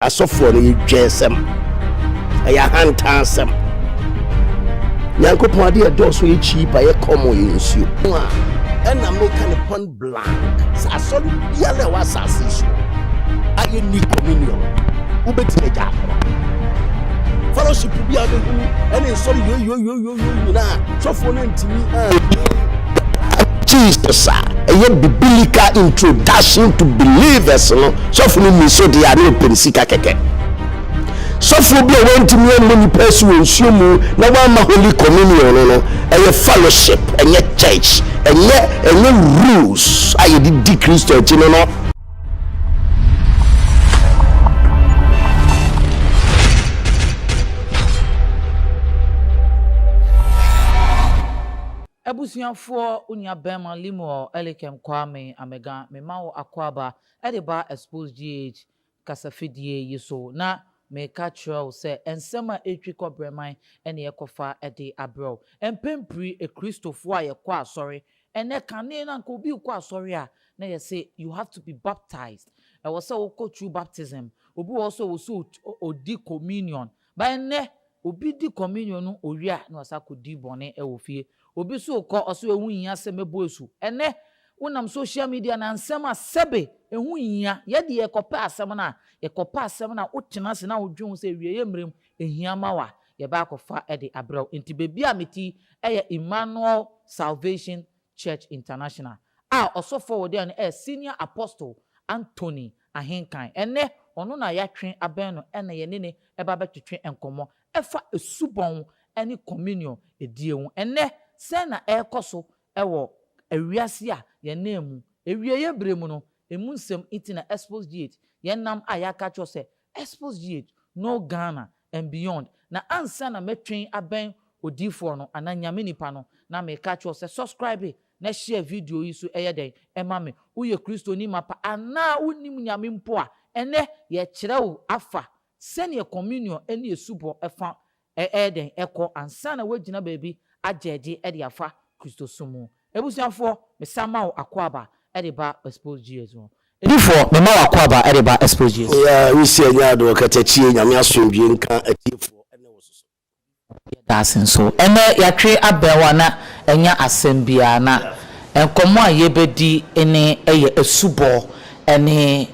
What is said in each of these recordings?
Asɔfoɔ no yɛ dwensɛm, ɛyɛ ahantansɛm. Nyankopɔn adeɛ ɛdɔɔso yɛ cheaper, yɛ common, yɛ nsuo. Ho a, ɛna meka no point blank sɛ asɔre biara ɛwɔ asase yi so a yɛnni communion, wobɛtumi agya akora. Fellowship biara bɛhunu ɛne nsɔre yoyoyoyo. Jesus a ɛyɛ biblical introduction to believers no sɔfo no ni so deɛ a ne ɔpɛ ne sika kɛkɛ sɔfo bi a wɔntumi ammɔ nipa asi wɔ nsuo mu na wɔama holy communion no no ɛyɛ fellowship ɛnyɛ church ɛnyɛ ɛnyɛ rules a yɛde di kristo akyi no no Abusuafoɔ, wo nua bɛɛma Lemuel Elikem Kwame Amega me ma wo akwaaba de ba Expose GH kasa fidie yi so na me ka kyerɛ wo sɛ nsɛm a ɛtwi kɔ brɛman ne yɛkɔ fa de abrɛ wo. Mpɛn piri Akristofoɔ a yɛkɔ asɔre Ɛnnɛ, kane no anka obi rekɔ asɔre a, na yɛse you have to be baptized, ɛwɔ sɛ wokɔ true baptism. Obi wɔ hɔ nso a, ɛwɔ sɛ odi communion. But ɛnnɛ, obi di communion no, owie a, na wasan akɔdi bɔne wɔ fie. Obi nso rekɔ, ɔse ɛho nhia sɛ mɛbɔ asu. Ɛnnɛ, wonam social media na nsɛm a sɛbe ɛho nhia. Yɛ deɛ yɛkɔpɛ asɛm no a, yɛkɔpɛ asɛm no a, wotena ase na wodwene ho sɛ awieeɛ mmerɛ mu, ɛhia ma wo a, yɛba akɔfa de abrɛ wo. Nti baabi a me ti yɛ Emmanuel Salvation Church International a ɔsɔfo a wɔde no yɛ Senior Apostle Anthony Ahenkan. Ɛnnɛ ɔno na yɛatwe abɛn no na yɛne no reba abɛtwetwe nkɔmmɔ ɛfa asubɔn ne communion die ho. Ɛnnɛ sɛn na ɛrekɔ so wɔ wiase a yɛnam mu? Awieɛ berɛ mu no, ɛmu nsɛm nti na Expose Gate yɛnam a yɛaka akyerɛ wo sɛ Expose yie no Ghana and beyond na ansa na mɛtwen abɛn odiifoɔ no anaa Nyame nipa no na meka akyerɛ wo sɛ subscribe na share video yi so ɛyɛ dɛn ɛma me woyɛ kristoni mapa anaa wonnim Nyame mpo a ɛnɛ yɛkyerɛ wo afa sɛdeɛ communion ɛne asubɔ ɛfa Ɛyɛ dɛn kɔ ansa na woagyina baabi agye agye de afa Kristosom mu? Abusuafoɔ, mesan ma wo akwaaba de ba Exposed GS mu. Adiyifoɔ, mema wo akwaaba de ba Exposed GS mu. Yɛ Risi Anya Adɔ Katakyie Nyame Asomdwie Nka Atiefoɔ Ɛnnɛ Wɔ Soso? Yɛda ase nso. Ɛnnɛ yɛatwe abɛn wo a na ɛnyɛ asɛm biara na nkɔmmɔ a yɛbɛdi ne yɛ asubɔ ne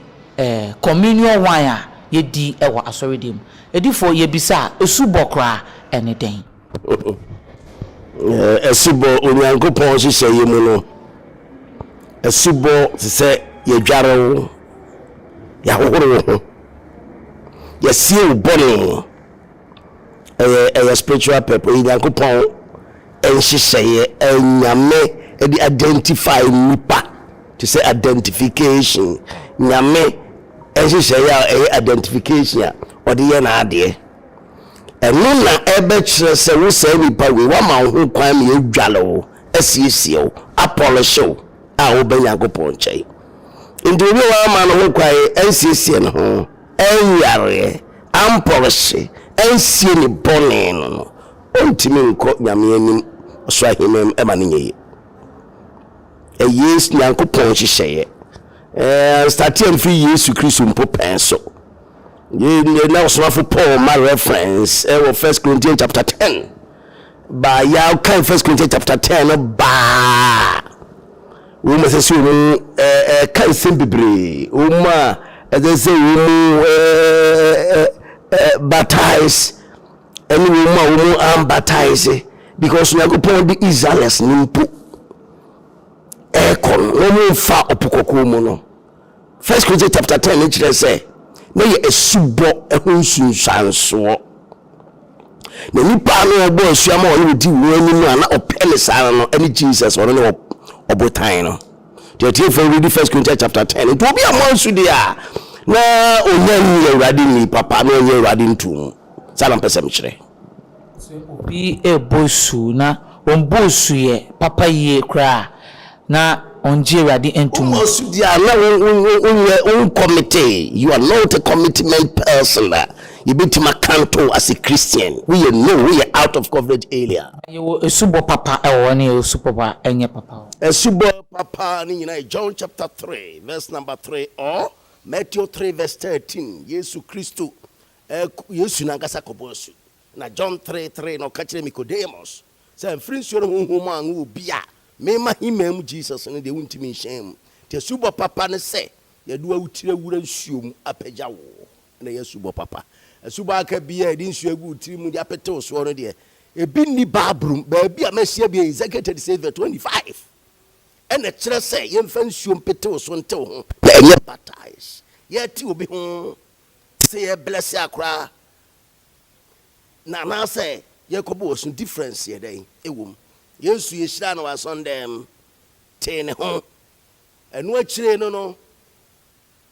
communion wine a yɛdi wɔ asɔredan mu. Adifo, yebisa a, asubɔ koraa ne dɛn? Asubɔ, Onyankopɔn nhyehyɛeɛ mu no, asubɔ te sɛ yɛdware wo, yɛahohoro wo ho, yɛasie wo bɔne. Ɛyɛ ɛyɛ spiritual purpose, ɛyɛ Nyankopɔn nhyehyɛeɛ a Nyame de identify nnipa te sɛ identification, Nyame nhyehyɛeɛ a ɛyɛ identification a ɔde yɛ n'adeɛ. Ɛno na ɛbɛkyerɛ sɛ wo saa nipa wei wama wo ho kwan ma yɛadware wo, asiesie wo, apɔlehye wo a wobɛ Nyankopɔn nkyɛn. Nti obi a wama no ho kwan ansiesie ne ho, anwareɛ, ampɔlehye, ansie ne bɔne no no, Ontumi nkɔ Nyame anim ɔsoro aheman mu ɛma no nyɛ yie. Ɛyɛ Nyankopɔn nhyehyɛeɛ. Ɛɛ starteɛ no firi Yesu Kristo mpo pɛn so. Yɛ na ɔsomafo Paul ma reference ɛwɔ First Corinthians chapter ten. Baa yɛ a kan First Corinthians chapter ten no baa. Wɔn ɛsɛ sɛ wɔn ɛka nsɛm bebree. Wɔn a ɛsɛ sɛ wɔn ɛɛ ɛɛ baptize. Ɛne wɔn a wɔn ambataise because Nyankopɔn de Israelis no mpo ɛrekɔ no na wɔn mfa ɔpo kɔkɔɔ mu no. First Corinthians chapter ten ne kyerɛ sɛ na yɛ asubɔ ɛho nsunsuansoɔ. Na nipa no ɔbɔ asu ama ɔne odi wɔn anim a na ɔpɛ ne saa no ɛne Jesus ɔno ne ɔbotan no. Deɛ ɔtie fɛ read First Corinthians chapter ten nti obi a mo ansu deɛ a na ɔnya nni awurade nni papa na ɔnyɛ awurade ntom. Saa na mpɛ sɛ mekyerɛ. Sɛ obi rebɔ asu na ɔmmbɔ asu yɛ papa yie koraa a, na ɔnngye Awurade nnto mu. Wobɔ asu deɛ a, na wonyɛ, wonkɔmitee, you are not a commitment person a yɛbɛtumi akanto wo as a Christian. Woyɛ no, woyɛ out of coverage area. Na yɛwɔ asubɔ papa wɔ hɔ ne yɛwɔ asu papa a ɛnyɛ papa wɔ hɔ. Asubɔ papa no nyinaa yɛ John chapter three verse number three or Matthew three verse thirteen, Yesu Kristo Ɛk, Yesu no ankasa kɔbɔ asu. Na John three three na ɔka kyerɛ Nicodemus sɛ, Mfiri nsuo ne Honhom mu anwo obi a, mema hemmaa mu Jesus no deɛ, wontumi nhyɛn mu. Nti asubɔ papa ne sɛ yɛde w'awotiri awura nsuo mu apagya wo, na ɛyɛ asubɔ papa. Asubɔ a aka biara a yɛde nsuo agu wo tiri mu de apete wo soɔ no deɛ, ebi nni Bible mu. Baabi a mahyia bi yɛ Ezekiel thirty six verse twenty five, ɛna ɛkyerɛ sɛ yɛmfa nsuo mpete wo so nte wo ho, na ɛnyɛ baptise. Yɛte obi ho Sɛ yɛ blɛse a koraa na anaasɛ yɛ kɔ bɔ ɔsu difference yɛ dɛn ɛwɔ mu? Yesu yɛ hyiraa no wɔ asɔndɛɛm tee ne ho ɛno akyiree no no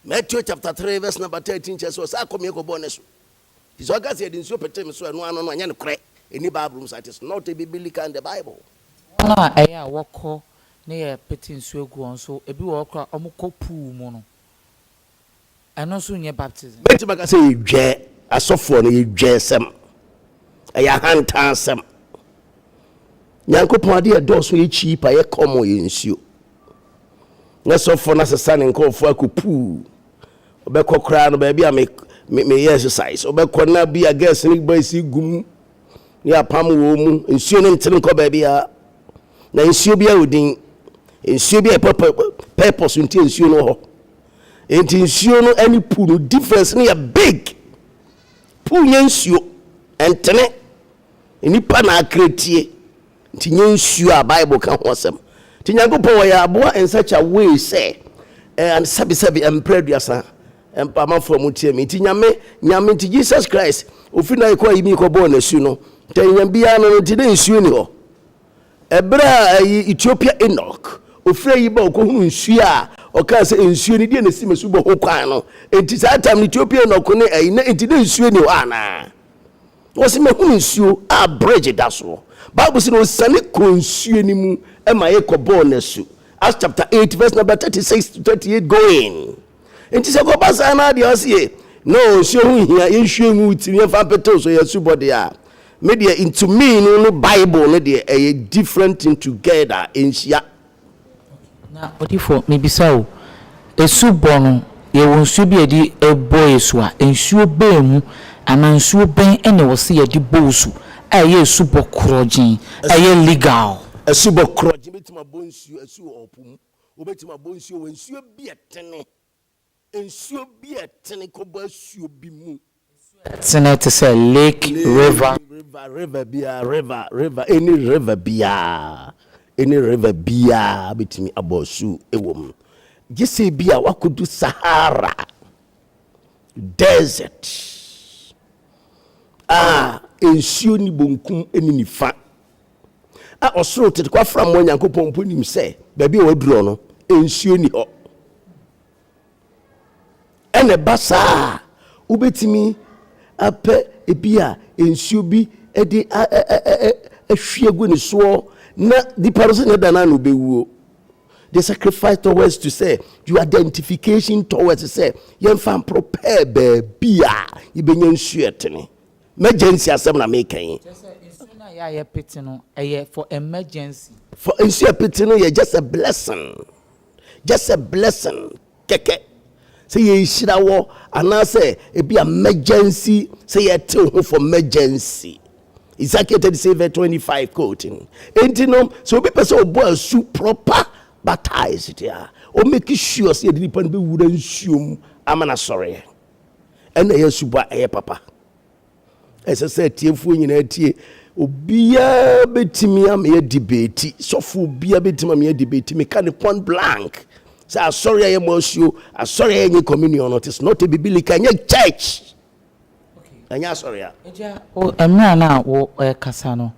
Matthew chapter 3 verse number 13 kyerɛ sɛ ɔsaa kɔ meɛ kɔ bɔ ne su ti sɛ ɔka sɛ yɛde nsuo petee me so ɛno ano no ɛnyɛ no korɛ ɛni Bible mu saa it is not a biblical in the Bible. Wɔn a ɛyɛ a wɔkɔ ne yɛ pete nsuo gu wɔn so ebi wɔ hɔ koraa wɔn kɔ pool mu no. Ɛno nso nyɛ baptism. Mɛtumi aka sɛ yɛdwɛɛ asɔfoɔ no, yɛdwɛɛ sɛm. Ɛyɛ ahantan sɛm. Nyankopɔn adeɛ ɛdɔɔso yɛ cheap a yɛ kɔmɔ yɛ nsuo. Na sɔfoɔ no asesa ne nkorɔfoɔ akɔ puu. Ɔbɛkɔ koraa no baabi a me me me yɛ exercise. Ɔbɛkɔ na bi a girls ne boys gum ne apam wɔ mu. Nsuo no ntene nkɔ baabi a. Na nsuo bi a odin. Nsuo bi a purpose nti nsuo no hɔ. Enti nsuo no ɛne pool no difference no yɛ big. Pool nyɛ nsuo, ɛntene. Nnipa na akra tie. Nti nyɛ nsuo a Bible ka ho asɛm. Nti Nyankopɔn ɔyɛ aboa in such a way sɛ eh, and sɛbi sɛbi ɛmprɛ aduasa ɛmpa amanfoɔ a motie me. Nti Nyame, Nyame nti Jesus Christ ofiri na yɛkɔ ayi mi kɔbɔɔ n'asu no, nti ɛnyɛ biara no no nti na nsuo ni hɔ. Ɛberɛ a ɛyɛ Ethiopia Enoch ɔfiri ayi ba ɔkɔhunuu nsuo a, ɔkaa sɛ, Nsuo no deɛ na ɛsi m'asubɔ ho kwan no, enti saa tam no Ethiopia Enoch ne ayi na enti na nsuo nni hɔ anaa? Ɔse, Mahunu nsuo a bridge da soɔ. Bible se na ɔsiane kɔɔ nsuo no mu ma yɛkɔbɔɔ no asu, Acts chapter eight verse number thirty six to thirty eight going. Enti sɛ kɔba saa na adeɛ ɔse yɛ na ɔnsuo ho nhia yɛnhwie ngu wo tirim yɛmfa mpete wo so yɛ asubɔ deɛ a me deɛ to me no ne bible no deɛ ɛyɛ different thing together ɛnhyia. Na odifoɔ mebisa o asubɔ no yɛwɔ nsuo bi a yɛde bɔ yɛ su a nsuo bɛn mu anaa nsuo bɛn na ɛwɔ sɛ yɛde bɔ wo su a ɛyɛ asubɔ korɔgyen a ɛyɛ legal. Asubɔ korɔgyen bɛtumi abɔ nsuo asu wɔ po mu. Wobɛtumi abɔ nsuo wɔ nsuo bi a ɛtene, nsuo bi a ɛtene kɔbɔ asuo bi mu. Nsuo a ɛtene te sɛ lake, river. Lake, river, river biara, river, river, any river biara, any river biara bɛtumi abɔ asuo wɔ mu. Gye sɛ bi a woakɔdu Sahara desert a nsuo nni bonkum ne nifa a ɔsoro tete kwafra mmoa Nyankopɔn mpo nim sɛ baabi a wɔadurɔ no, nsuo ni hɔ. Ɛna ɛba saa a, wobɛtumi apɛ ebi a nsuo bi de ahwie agu ne soɔ na nipa no sɛnea ɛda no ano bɛwuo. The sacrifice towards to sɛ your identification towards sɛ yɛmfa mporo pɛɛ baabi a yɛbɛnya nsuo ɛtene M'ɛgyɛnsi asɛm na meka yi. Kyerɛ sɛ nsuo no a yɛ a yɛ pete no ɛyɛ for emergency. For nsuo yɛ pete no yɛ just a blessing just a blessing kɛkɛ sɛ yɛ nhyira wɔ anaa sɛ ebi a emergency sɛ yɛ tew ho for emergency. Ezekiel 37 verse 25 quoting. Enti no sɛ obi pɛ sɛ ɔbɔ asu proper baptized a ɔmɛki sure sɛ yɛde nipa no bɛwura nsuo mu ama no asɔreɛ. Ɛna ɛyɛ asubɔ a ɛyɛ papa. Ɛsɛ sɛ atiefoɔ nyinaa tie. Obiara bɛtumi ama yɛ debate. Sɔfo obiara bɛtumi ama yɛ debate. Meka ne point blank. Sɛ asɔre a yɛ mo asuo, asɔre a yɛnyɛ communion no, it is not a biblical, ɛnyɛ church. Ɛnyɛ asɔre a. Agya, mmerɛ no a worekasa no,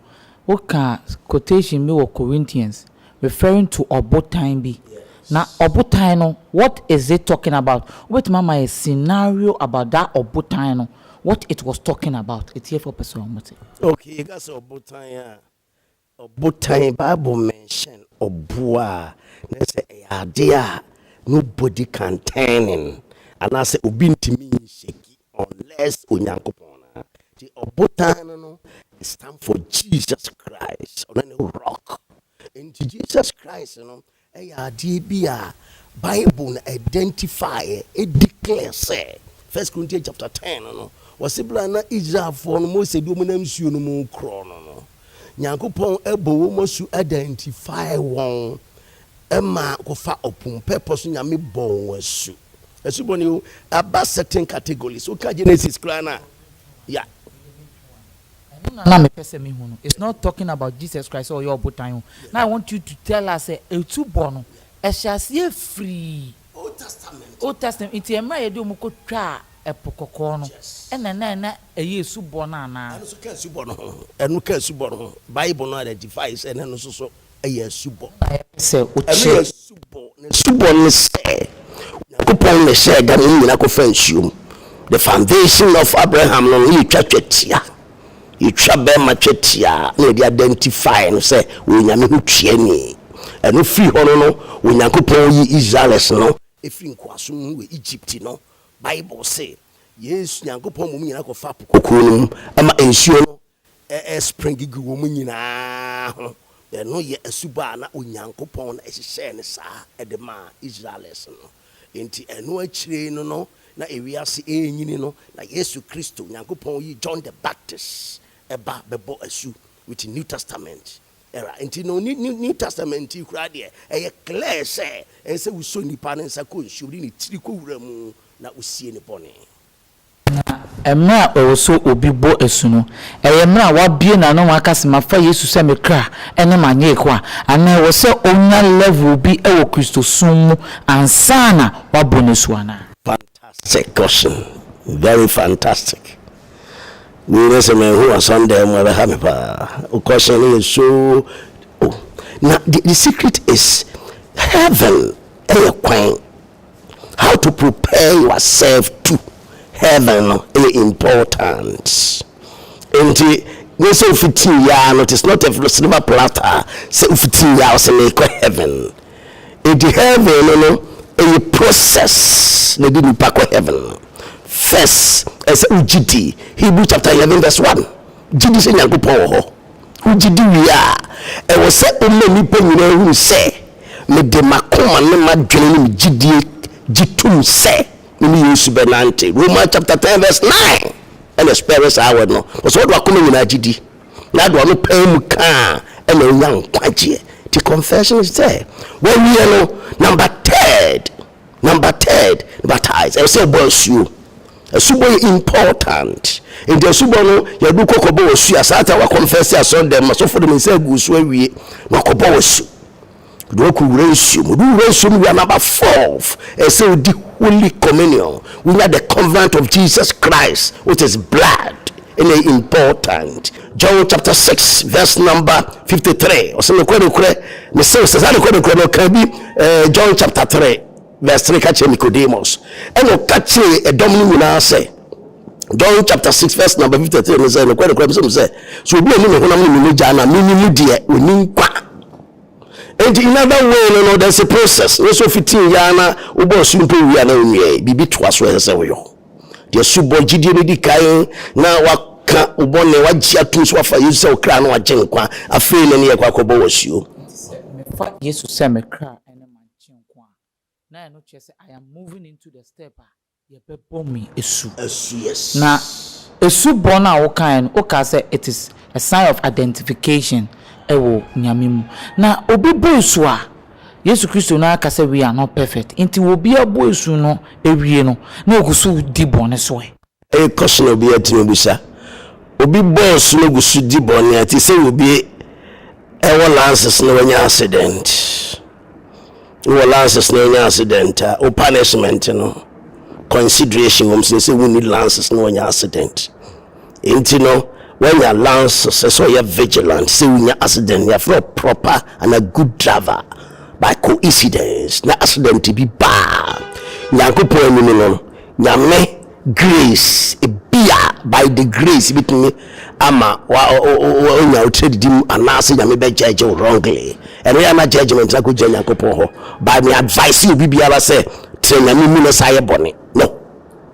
wokaa quotation bi wɔ Corinthians Referring to ɔbotan bi. Na ɔbotan no, what is it talking about? Wobɛtumi ama yɛ scenario about that ɔbotan no, what it was talking about. Atiefoɔ pɛ sɛ wɔte. Okay, yɛka sɛ ɔbotan a, ɔbotan, Bible mention ɔboɔ a, na sɛ ɛyɛ adeɛ a nobody can turn in, anaasɛ obi ntumi nhyɛki. Unless Onyankopɔn no a. Nti ɔbotan no no it stand for Jesus Christ. Ɔno ne rock. Nti Jesus Christ no ɛyɛ adeɛ bi a Bible no identify ɛ, ɛdeclare sɛ, First Corinthians chapter 10 no no, wɔse berɛ a na Israelfoɔ no Mose de wɔn nam nsuo no mu rekorɔ no no, Nyankopɔn bɔ wɔn asu identify wɔn Ɛma kofa ɔpo mu pɛpɔ so nyame bɔ wɔn asu asu bɔne o ɛba certain categories woka genesis koraa no a ya. Ɛno na na mepɛ sɛ mehu no it's not talking about Jesus Christ sɛ ɔyɛ ɔbotan o na I want you to tell us sɛ asu bɔ no ɛhyɛ aseɛ firi Old Testament Old Testament nti ɛmmerɛ a yɛde wɔn kɔ twaa ɛpo kɔkɔɔ no ɛna na na ɛyɛ asu bɔ no anaa? Ɛno nso ka asu bɔ no ho ɛno ka asu bɔ no ho bible no identify sɛ na ɛno nso so yɛ asubɔ. Ɛno yɛ asubɔ. N'asubɔ ne sɛ, Onyankopɔn na ɛhyɛɛ da ma wɔn nyinaa kɔfaa nsuo mu. The foundation of Abraham no, na yɛtwa twetia. Yɛtwa bɛrima twetia na yɛde identify no sɛ ɔyɛ Nyame ho tuani. Ɛno firi hɔ no no, Onyankopɔn yi Israelis no firi nkoasom mu wɔ Egypt no, Bible se, Yesu, Nyankopɔn ma wɔn nyinaa kɔfaa Po Kɔkɔɔ no mu, ɛma nsuo no ɛ spring gu wɔn nyinaa ho. Ɛno yɛ asubɔ a na Onyankopɔn na ɛhyehyɛɛ no saa de maa Israelers no. Enti ɛno akyire no no na ewiase renyini no na Yesu Kristo, Nyankopɔn yi John the Baptist ba bɛbɔ asu with New Testament era. Enti no ne ne New Testament yi koraa deɛ ɛyɛ clear sɛ ɛnsɛ wosɔ nipa ne nsa kɔ nsuom de ne tiri kɔ wura mu na wosie ne bɔne. Na mmerɛ a ɛwɔ sɛ obi bɔ asu no, ɛyɛ mmerɛ a wabue n'ano na waka sɛ, Mafa Yesu sɛ me kra ne m'agyenkwa, anaa ɛwɔ sɛ ɔnya level bi wɔ Kristosom mu ansa na wabɔ n'asu anaa? Fantastic question very fantastic me na sɛ manhu asɔndan mu ɛbɛha me paa wo question no yɛ so oh na the secret is heaven ɛyɛ kwan How to prepare yourself to heaven no yɛ important. Nti nyɛ sɛ wofitii yɛ a no, it is not a silver platter sɛ wofitii yɛ a ɔsɛ meekɔ heaven. Nti heaven no no ɛyɛ process na ɛde nipa kɔ heaven no. First ɛsɛ wogye di Hebrew chapter 11 verse 1 gye di sɛ Nyankopɔn wɔ hɔ. Wogye di wie a, ɛwɔ sɛ woma nnipa nyinaa hu sɛ mede m'akoma ne m'adwene ne me gyidie gye tom sɛ me ne Yesu bɛnante. Romans chapter ten verse nine na ɛspɛɛre saa word no. Ɔsɛ ɔde w'akoma nyinaa gye di na ade w'ano paa mu ka a na wonya nkwagyeɛ. Nti confession is there. Wawie no, number third. Number third, baptize, ɛwɔ sɛ ɛbɔ asuo. Asubɔ yɛ important. Nti asubɔ no, yɛde kɔ kɔbɔ wɔ su a, saa ta wakɔnfɛse asɔndɛm ma sɔfo de me nsa agu so awie, na wakɔbɔ wɔ su. De wakɔ wura nsuo mu. De wura nsuo mu wia number fourth, ɛwɔ sɛ odi holy communion. Wonya the covenant of Jesus Christ with his blood. Ɛna important. John chapter six verse number fifty three ɔsɛ nokorɛ nokorɛ mese wo sɛ saa nokorɛ nokorɛ no ɔka bi eh, John chapter three verse three ka kyerɛ Nicodemus ɛna ɔka kyerɛ ɛdɔm no nyinaa sɛ John chapter six verse number fifty three no sɛ nokorɛ nokorɛ mese wo sɛ so obi a ɔni ne honam ne ne mogya na mene mu deɛ ɔni nkwa nti in other way no no there's a process ne so fitii yɛ na wobɔ nsuo mpo wia na ɔnwiɛ biribi toa so ɛsɛ sɛ woyɔ De asubɔ gyidie no di kan na waka wo bɔne, wagye atom sɛ wafa Yesu sɛ wo kra no agye nkwa. Afei na ne yɛ kɔ akɔbɔ wo asuo. Enti sɛ mefa Yesu sɛ me kra ne m'agyenkwa a, na ɛno kyerɛ sɛ I am moving into the step a yɛbɛbɔ me asu. Asu, yes. Na asubɔ no a wokaeɛ no, wokaa sɛ it is a sign of identification wɔ Nyame mu. Na obi bɔ asu a, Yesu Kristo no ara ka sɛ we are not perfect nti wɔ obi abɔ asu no awie no na ɔgu so di bɔne so ɛ? Ɛyɛ question a obiara tumi bisa. Obi bɔ asu na ɔgu so di bɔne a ɛte sɛ obi ɛwɔ lances na wanya accident. Wowɔ lances na wanya accident a wo punishment no consideration wɔ mu sɛ sɛ wonni lances na wanya accident. Enti no wanya lanse sɛ sɛ ɔyɛ vigilant sɛ wonya accident nea frɛ proper and a good driver by coincidence na accident bi baa Nyankopɔn anim no Nyame grace ebia by the grace bitumi ama wonya wo tradedi mu anaasɛ Nyame bɛ judge wo wrongly ɛno yɛ na judgment na kɔ gyina Nyankopɔn hɔ by me advice obi biara sɛ tena Nyame mu na sa yɛ bɔne no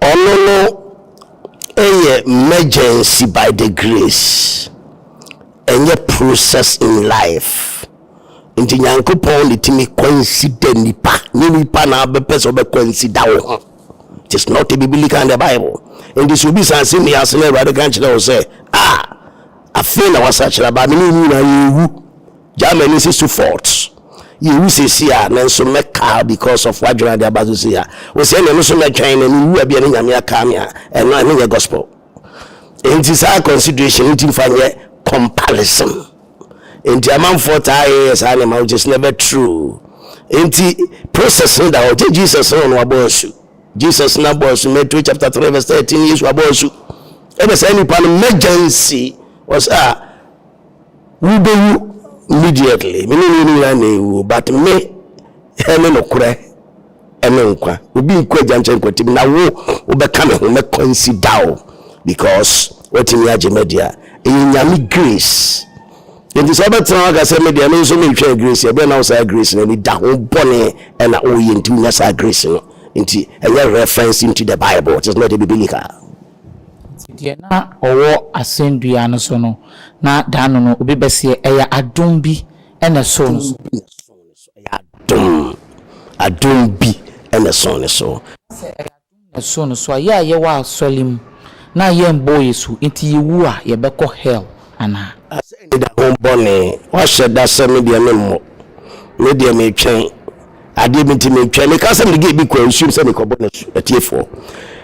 Ɔno no yɛ mergency by the grace ɛnyɛ process in life nti Nyankopɔn na ɛtumi consider nipa nyɛ nipa na abɛpɛ sɛ ɔbɛ consider wo ho it is not a biblical in the bible nti sɛ obi saa sɛ mi ase na awurade ka kyerɛ wo sɛ ah Afei na wasakyera ba me ne wo nyinaa yɛrewu gyaa m'ani si so fort yɛwu sɛsi a me nso mɛkaa because of wadwene ade aba so si a wo sɛ ɛne no so mɛtwɛn na mewu a bia ne nyame akaa me a ɛno ɛno nyɛ gospel enti saa consideration nti mfa nyɛ comparison enti amanfoɔ taa yɛyɛ saa nneɛma which is never true enti process no da hɔ gye Jesus no na wabɔ asu Jesus na bɔɔ asu, Matthew chapter three verse thirteen, Yesu abɔ asu, ɛna saa nipa no mɛgya nsi, wɔsɛ a wubewu immediately, me ne ne nyinaa na ewu, but me ɛne nokorɛ ɛne nkwa, obi nkɔ agya nkyɛn nkɔtim, na wo wobɛka me ho mɛkɔ nsi da o, because watumi agye madi a, ɛyɛ nyame grace. Enti sɛ wobɛtena hɔ aka sɛ me deɛ me nso meretwɛn grace a, ɛbɛyɛ na wo saa grace no ani da ho bɔne na woyɛ nti wonya saa grace no nti ɛnyɛ reference into the bible just not biblical. Nti deɛ na ɔwɔ asɛndua no so no na daano no obi bɛseɛ ɛyɛ adom bi na ɛsoo no so. Ɛyɛ adom, adom bi na ɛsoo no so. Sɛ ɛyɛ na su no so a, yɛ a yɛwɔ asɔle mu na yɛmmbɔɔ yɛ su ntsi yewu a yɛbɛkɔ hell anaa? Asɛɛ ne da ho bɔne. Woahyɛ da sɛ me deɛ memmɔ? Me deɛ metwɛn adeɛ bi nti metwɛn. Mekaa sɛ mede girl bi kɔɔ nsuom sɛ mekɔbɔ no asu. Atiefoɔ,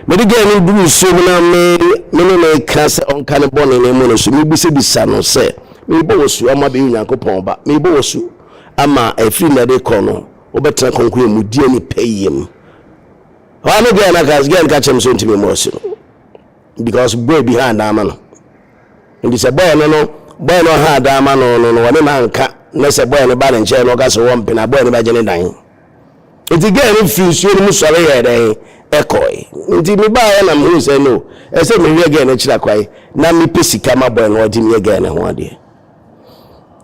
mede girl no duruu nsuom na me me ne no reka sɛ ɔnka ne bɔne na ɛmmɔ no asu. Mebisabisa no sɛ, Merebɔ wo asu ama abɛyɛ Onyankopɔn ba? Merebɔ wo asu ama ɛfiri nnɛ de rekɔ no wobɛtena kronkron mu, di ani pɛyɛ mu? Ɔha me girl na ka girl ka kyerɛ me sɛ ɔntumi mmɔ ɔse no because boy bi haa dan ma no nti sɛ boy no no boy no ɔhaa dan ma no no no ɔne no anka na sɛ boy no ba ne nkyɛn no ɔka sɛ wɔmpe na boy no bɛgye ne dan nti girl no firi nsuo no mu sɔre yɛɛ dɛn ɛkɔe nti mebaeɛ na mehu sɛ no ɛsɛ mehwɛ girl no akyira kwae na mepɛ sika ma boy no ɔgye meyɛ girl no ho adeɛ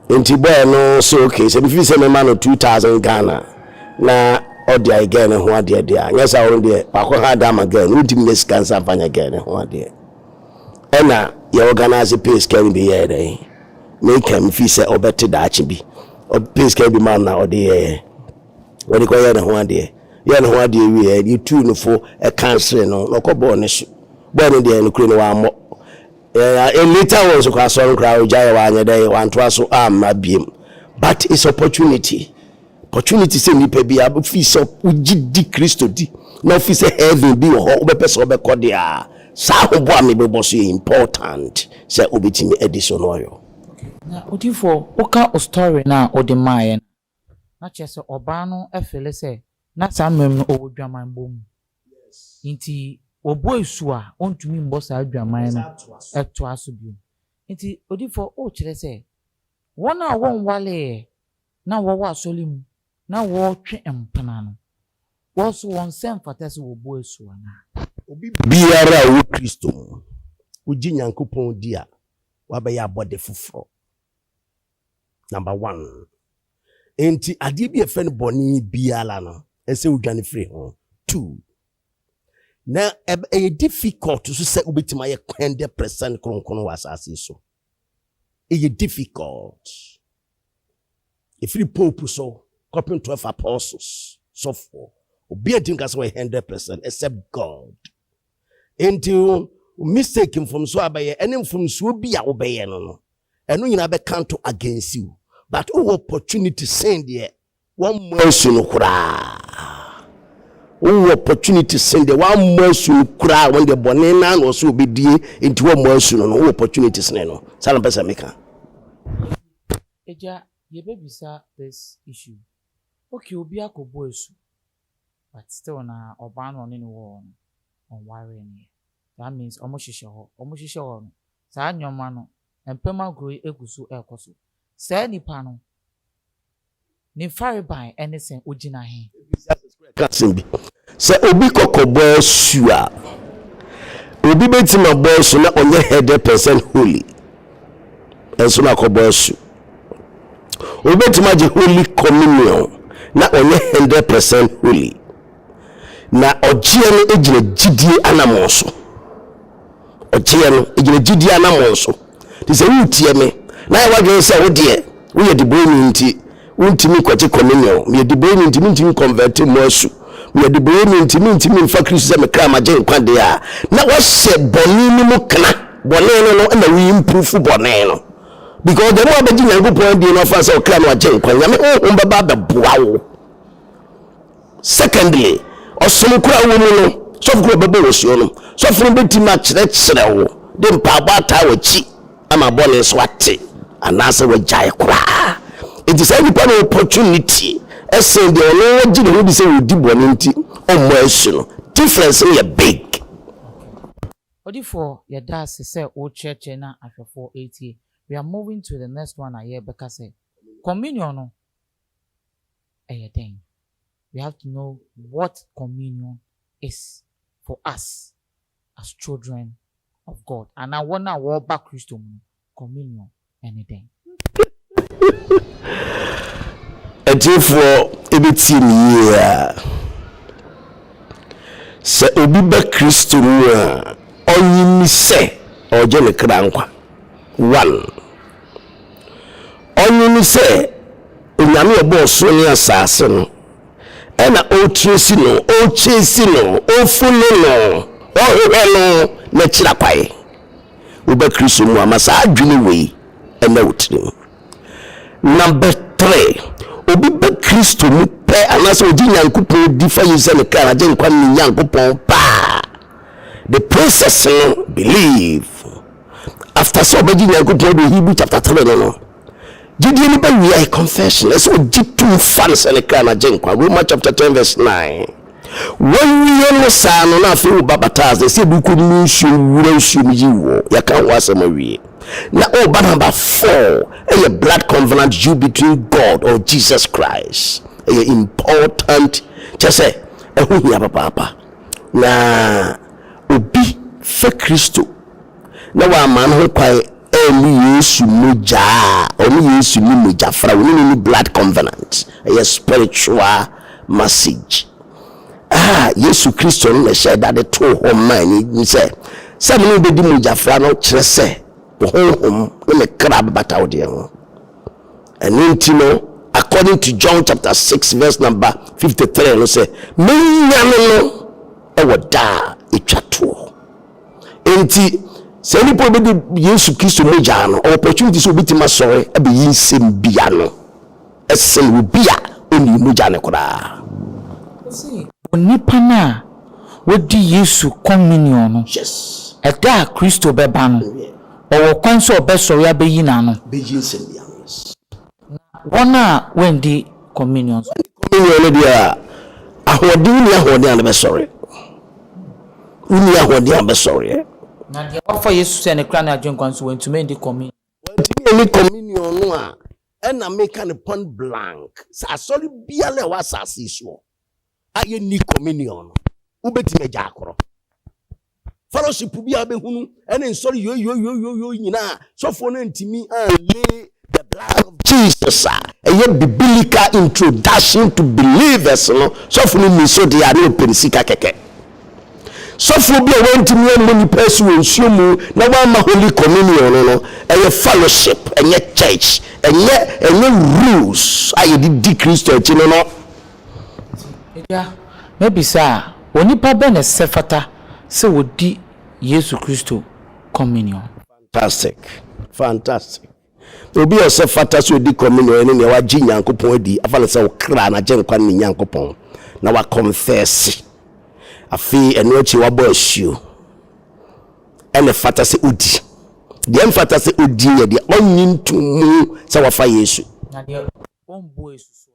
nti bɔɛ no so okay sɛ mefiri sɛ mema no 2000 Ghana na ɔde ayɛ gɛɛ ne ho adeɛ deɛ a nyɛ saa ɔno deɛ wakɔ ha da ama gɛɛ no wontumi nya sika nsa mfa nyɛ gɛɛ ne ho adeɛ ɛna yɛ organize pay sika no bi yɛɛ dɛn meka mefiri sɛ ɔbɛte daakye bi pay sika bi ma no na ɔde yɛɛ ɔde kɔyɛ ne ho adeɛ yɛ ne ho adeɛ wieɛ yɛtuu no fo ɛka nsere no na ɔkɔ bɔɔ ne so bɔɔ no deɛ no kuro no wammɔ Yeah yeah Elita wɔ nso kɔ asɔre koraa ogyaeɛ wanyɛ dɛn wantoa so amma biem but it's opportunity opportunity sɛ nipa bi a wofi sɛ wogye di Kristo di na wofi sɛ heaven bi wɔ hɔ wobɛpɛ sɛ wobɛkɔ de a saa ahoboɔ a mebɛbɔ so yɛ important sɛ wobɛtumi adi so no ɔyɔ. Na odifoɔ woka wo story no a wode maaeɛ no a. na kyerɛ sɛ ɔbaa no fele sɛ na saa mmerɛ mu no ɔwɔ dwaman bɔ mu nti ɔbɔ asu a ɔntumi mmɔ saa dwaman no toa so bio. Nti odiyifoɔ wokyerɛ sɛ wɔn a wɔnwaleeɛ na wɔwɔ asɔre mu na wɔretwe mpena no wɔn so wɔn sɛ mfata sɛ wɔbɔ asu anaa? Obi biara a ɔwɔ Kristo mu, wogye Nyankopɔn di a, wabɛyɛ abɔde foforɔ. Number one. Enti adeɛ bi a ɛfɛ no bɔne biara no, ɛsɛ wodwane firi ho. Two. Na ɛyɛ difficult so sɛ wobɛtumi ayɛ hundred percent kronkron wɔ asase so. Ɛyɛ difficult. Ɛfiri pope so kɔpem twelve apostles sɔfoɔ. Obi a ntumi ka sɛ wɔyɛ hundred percent except God. Enti wo mistake, mfomsoɔ a bɛyɛ, ɛne mfomsoɔ bi a wobɛyɛ no no, ɛno nyinaa bɛ counto against you. But wowɔ opportunity sen deɛ wammɔ asu no koraa. Wowɔ opportunity sen deɛ wammɔ asu no koraa, wɔn deɛ bɔne no ara na ɔsɛ ɔbɛdie, enti wammɔ asu no no, wowɔ opportunity sene no. Saa na mpɛ sɛ meka. Agya, yɛbɛbisa this issue. Okay, obi akɔbɔ asu, but still na ɔbaa no a ɔne no wɔ hɔ no ɔnwaree no yɛ that means ɔmo hyehyɛ hɔ ɔmo hyehyɛ hɔ no saa nnoɔma no mpɛm agorɔ yi egu so ɛkɔ so saa nipa no ne farebae ɛne sɛ ogyina he. ka asɛm bi sɛ obi kɔkɔbɔ asu a obi bɛtim abɔ asu na ɔnyɛ 100 percent holy. nso na akɔbɔ asu. Wobɛtumi agye Holy Communion na ɔnyɛ hundred percent holy. Na ɔgyeɛ no gyina gyidie anamɔn so. Ɔgyeɛ no gyina gyidie anamɔn so. Te sɛ woretie me na ayɛ w'adwene sɛ wodeɛ woyɛ debɔni nti Wontumi nkɔgye komunio. Meyɛ diboyeni nti mentumi nkɔnvɛte mmɔ asu. Meyɛ diboyeni nti mentumi mfa Kristo sɛ me kra ma gyenkwa deɛ a, na woahyɛ bɔne no mu kena. Bɔne no no na wo improve bɔne no. Because the more wobɛgye Nyankopɔn adie no afa sɛ wo kra no agyenkwa, Nyame honhom bɛba abɛboa wo. Secondly, ɔsom koro a wowɔ mu no, sɔfo koro a ɔbɛbɔ wo asu no, sɔfo no betumi akyerɛkyerɛ wo de mpaebɔ ataa w'akyi ama bɔne so ate anaasɛ wagyae koraa. Enti saa nipa no wɔ opportunity sen deɛ ɔno ara gye ne ho di sɛ ɔdi bɔne nti ɔmmɔ asu no. Difference no yɛ big. Odifoɔ, yɛda ase sɛ worekyerɛkyerɛ na ahwɛfoɔ retie. We are moving to the next one a yɛrebɛka sɛ, Communion no, ɛyɛ dɛn? We have to know what communion is for us as children of God. Anaa wɔn a wɔreba Kristo mu no, communion ne dɛn? Atiefoɔ ɛbɛtie me yie a, sɛ obi ba Kristo mu a, ɔnyi ni sɛ ɔregye ne kra nkwa. One. Ɔno ne sɛ Onyame a ɔbɔɔ soro ne asaase no, ɛna ɔretresi no, ɔrekyesi no, ɔrefunu no, ɔrehwehwɛ no n'akyiri akwae. Woba Kristo mu a, ma saa adwene wei ɛna wo tirim. Number three, obi ba Kristo mu pɛ anaasɛ ɔgye Nyankopɔn di fa yi sɛ ne kra n'agyenkwa ne Nyankopɔn paa. The process no, believe. after sɛ ɔbɛgye nyankopɔn do hebrew chapter 3 no no gyedie no bɛwiae confession ɛsɛ ɔgye tom fa no sɛ ne kra na gye nkwa roma chapter 10 verse 9 wawie no saa no na afei woba bataa sɛ sɛ ɛdukɔ no mu nsuo wura nsuo mu yi wɔ yɛka ho asɛm awie na ɔba namba 4 ɛyɛ blood covenant you between god or jesus christ ɛyɛ important kyɛ sɛ ɛho hia papaapa na obi fɛ kristo na wamma no ho kwan anni Yesu mogya a ɔne Yesu ni mogya fra, wɔne no ni blood covenant. Ɛyɛ spiritual message a Yesu Kristo no na ɛhyɛɛ da de too hɔ maa ni sɛ, sɛ mo ne wo bɛdi mogya fra no kyerɛ sɛ me honhom ne me kra bɛbata wo deɛ ho. Ɛno nti no, according to John chapter 6 verse number 53 no sɛ, mɛnyane no wɔ da a ɛtwa toɔ. Enti saa nnipa a wɔbɛdi Yesu Kristo mogya no, ɔwɔ opportunity sɛ obetumi asɔre abɛyi nsɛm bi ano sen obi a onnii mogya no koraa. Ɔse onipa no a wadi Yesu communion no, ɛda a Kristo bɛba no, ɔwɔ kwan sɛ ɔbɛsɔre abɛyi n'ano. Na wɔn a wɔanndi Communion nso. Wɔanndi Communion no deɛ a, ahoɔden, wonni ahoɔden a na bɛsɔreɛ. Wonni ahoɔden a bɛsɔreɛ. Na deɛ wafa Yesu sɛ ne Kra ne Agyenkwa nso, wantumi anndi Communion. Wantumi anni Communion no a, ɛna meka no point blank sɛ asɔre biara a ɛwɔ asase yi soɔ, a yɛnni communion no, wobɛtumi agya akorɔ. Fellowship bi a wobɛhunu ɛne nsɔre yoyoyoyoyo nyinaa sɔfoɔ no ntumi anlee the blood of Jesus a ɛyɛ biblical introduction to believers no sɔfo no ni so deɛ a ne ɔpɛ ne sika kɛkɛ. Sɔfoɔ bi a wantumi ammɔ nipa asi wɔ nsuo mu na wamma holy communion no no ɛyɛ fellowship ɛnyɛ church ɛnyɛ ɛnyɛ rules a yɛde di Kristo akyi no no Enti, Agya, mabisa a, onipa bɛn na ɛsɛ fata sɛ ɔdi Yesu Kristo Communion? Fantastic! Fantastic! Obi a ɔsɛ fata sɛ ɔdi Communion ne nea wagye Nyankopɔn adi, afa no sɛ ɔkra, n'agyenkwa ne Nyankopɔn, na wakɔnfɛɛse. Afei, ɛno akyi wabɔ asuo. Ɛna ɛfata sɛ ɔdi. Deɛ ɛmfata sɛ ɔdi yɛ deɛ ɔnnye ntom mu sɛ wafa Yesu. Na deɛ ɔmmɔ asu soɔ.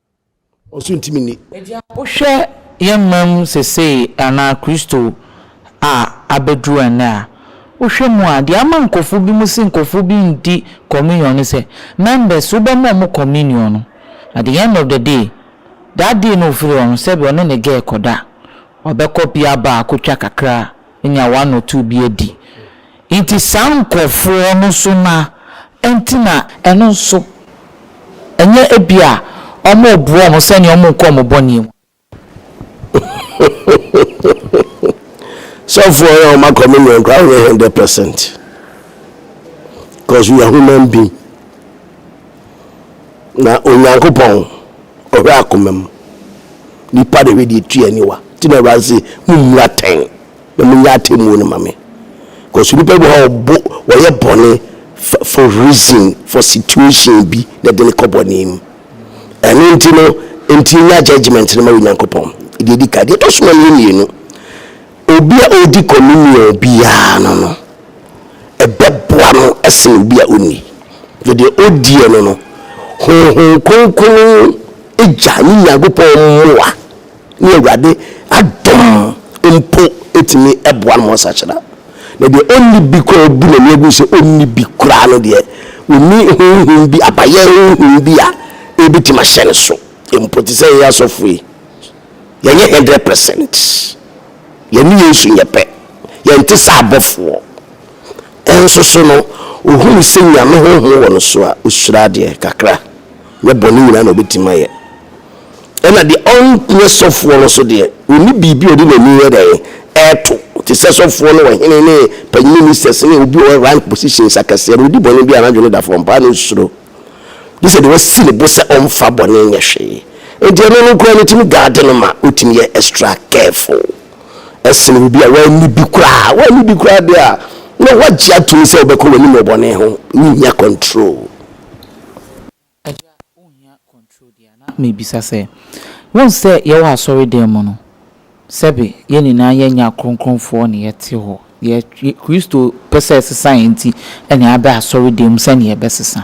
Ɔso ntimi nni. Agya wohwɛ yɛn man mu sesei anaa Kristo a abɛduru ɛnnɛ a, wohwɛ mu a, deɛ ama nkorɔfoɔ bi mo se nkorɔfoɔ bi nndi communion ne sɛ, members wobɛma ɔmo communion no, at the end of the day, that day no ofiri hɔ no, sɛbi ɔne ne girl kɔda, wabɛkɔ pia bar akɔtwa kakra, anya one or two bi adi. Nti saa nkorɔfoɔ no so na ɛnti na. Ɛno nso, ɛnyɛ ebia wɔreboa wɔn sɛdeɛ wɔrenkɔ wɔn bɔne mu. Sɔfoɔ yɛ ɔma communion koraa wonyɛ hundred percent cause we are human being na Onyankopɔn ɔhwɛ akoma mu nipa de hwɛ deɛ tua aniwa nti na awurade se mo mmura tɛn na monyɛ atemmuo no ma me cause nnipa bi wɔ hɔ a wɔbo wɔyɛ bɔne for for reason for situation bi na ɛde no kɔ bɔne mu ɛno nti no nti nya judgement no ma Onyankopɔn deɛ ɛdi ka deɛ ɛtɔ so mmienu mmienu obi a ɔredi communion biara no no ɛbɛboa no ɛsene obi a ɔnni deɛ ɔdiɛ no no honhom kronkron gya ne Nyankopɔn mmoa ne Awurade adom mpo tumi boa no ma ɔsakyera. Na deɛ ɔnni bi koraa ɔbu n'ani agu sɛ ɔnni bi koraa no deɛ, ɔnni honhom bi, abayɛ honhom bi a ɛbɛtumi ahyɛ ne so mpo. Te sɛ yɛn asɔfo yi, yɛnyɛ hundred percent. Yɛne Yesu nyɛ pɛ. Yɛnte sɛ abɔfoɔ. Nso so no, ɔhunu sɛ Nyame honhom wɔ no so a, ɔhyira adeɛ kakra. Nyɛ bɔne nyinaa na ɔbɛtumi ayɛ. Ɛna deɛ ɔnyɛ sɔfoɔ no nso deɛ, ɔnni biribi a ɔde n'ani yɛ dɛn? Ɛreto. Te sɛ sɔfoɔ ne ɔhene ne panyin ministers ne obi a ɔwɔ rank positions akɛseɛ no, ɔdi bɔne bi a n'adwene da fam paa na ɔsuro. Gye sɛ deɛ wasi ne bo sɛ ɔmfa bɔne nyɛ hwee. Enti ɛno no koraa no tumi guard no ma ɔtumi yɛ extra careful sene obi a wanni bi koraa. Wanni bi koraa deɛ a, na woagye atom sɛ wobɛkɔ w'anim wɔ bɔne ho, worennya control. Agya, wonhia control deɛ a? Na mebisa sɛ, wohu sɛ yɛwɔ asɔre dan mu no, sɛbe yɛn nyinaa yɛnyɛ akronkronfoɔ na yɛte hɔ, deɛ Kristo pɛ sɛ ɛsesa yɛn nti na yɛaba asɔre dan mu sɛdeɛ yɛbɛsesa.